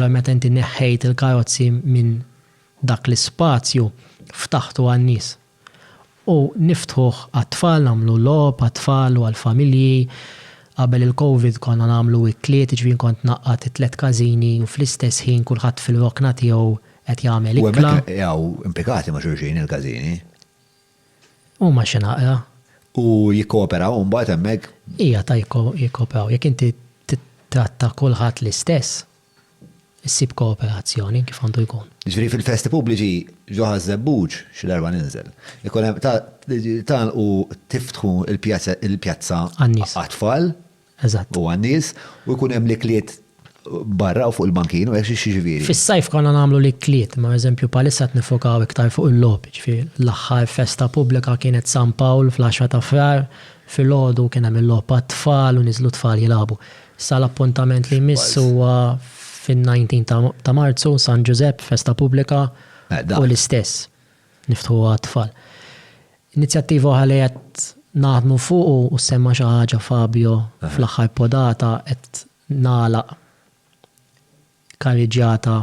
Allura meta inti neħħejt il-karozzi minn dak l-ispazju, ftaħtu għan-nies. U niftħuh għat-tfal, nagħmlu logħob għat-tfal u għall-familji. Qabel il-Covid konna nagħmlu ikliet, jiġifieri kont ngħaqqad it-tliet każini u fl-istess ħin kulħadd fil-rokna tiegħu qed jagħmel ikla. U hemmhekk jaqgħu impikati ma' xulxin il-każini. Huma xi naqra. U jikkooperaw imbagħad hemmhekk? Hija ta' jikkooperaw. Jekk inti tittratta kulħadd l-istess, issib kooperazzjoni kif għandu jkun. Jiġifieri fil-festi pubbliċi ġo Ħaż-Żebbuġ, xi darba ninżel, ikun hemm tagħlqu tiftħu l-pjazza għat-tfal. Eżatt. U għan-nies, u jkun hemm l-ikliet barra u fuq il-bankin, u hekk xi ġifieri? Fis-sajf konna nagħmlu l-ikliet, imma pereżempju bħalissa qed niffokaw iktar fuq il-logħob, jiġifieri l-aħħar festa pubblika kienet San Pawl fl-għaxra ta' Frar, filgħodu kien hemm il-logħob għat-tfal u niżlu t-tfal jilagħbu. Issa l-appuntament li jmiss huwa fin-19 ta' Marzu, San Ġużepp, festa pubblika u l-istess. niftħuha għat-tfal. Inizjattiva oħra li qed naħdmu fuq u semma xi ħaġa Fabio fl-aħħar podata qed nagħlaq karriġġjata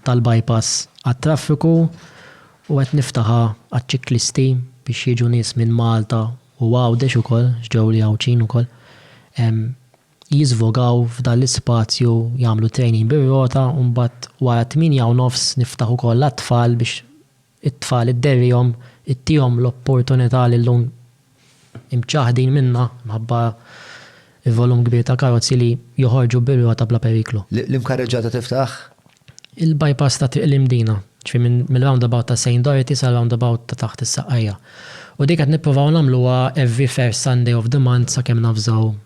tal-bypass għat-traffiku u qed niftaħha għaċ-ċiklisti biex jiġu nies minn Malta u Għawdex ukoll, x'ġew li Għawdxin ukoll. jiżvogaw f'dan l-ispazju jagħmlu training bir-rota u mbagħad wara t-tmienja u nofs niftaħ ukoll għat-tfal biex it-tfal idderrihom ittihom l-opportunità li llum imċaħħdin minnha minħabba l-volum kbir ta' karozzi li joħorġu bir-rota bla periklu. L-imkarreġġata tiftaħ? Il-bypass ta' Triq l-Imdina, ġifieri mir-roundabout ta' Saint Dorothy sar-roundabout ta' taħt is-Saqqajja. U din qed nippruvaw nagħmluha every first Sunday of the month sakemm navżaw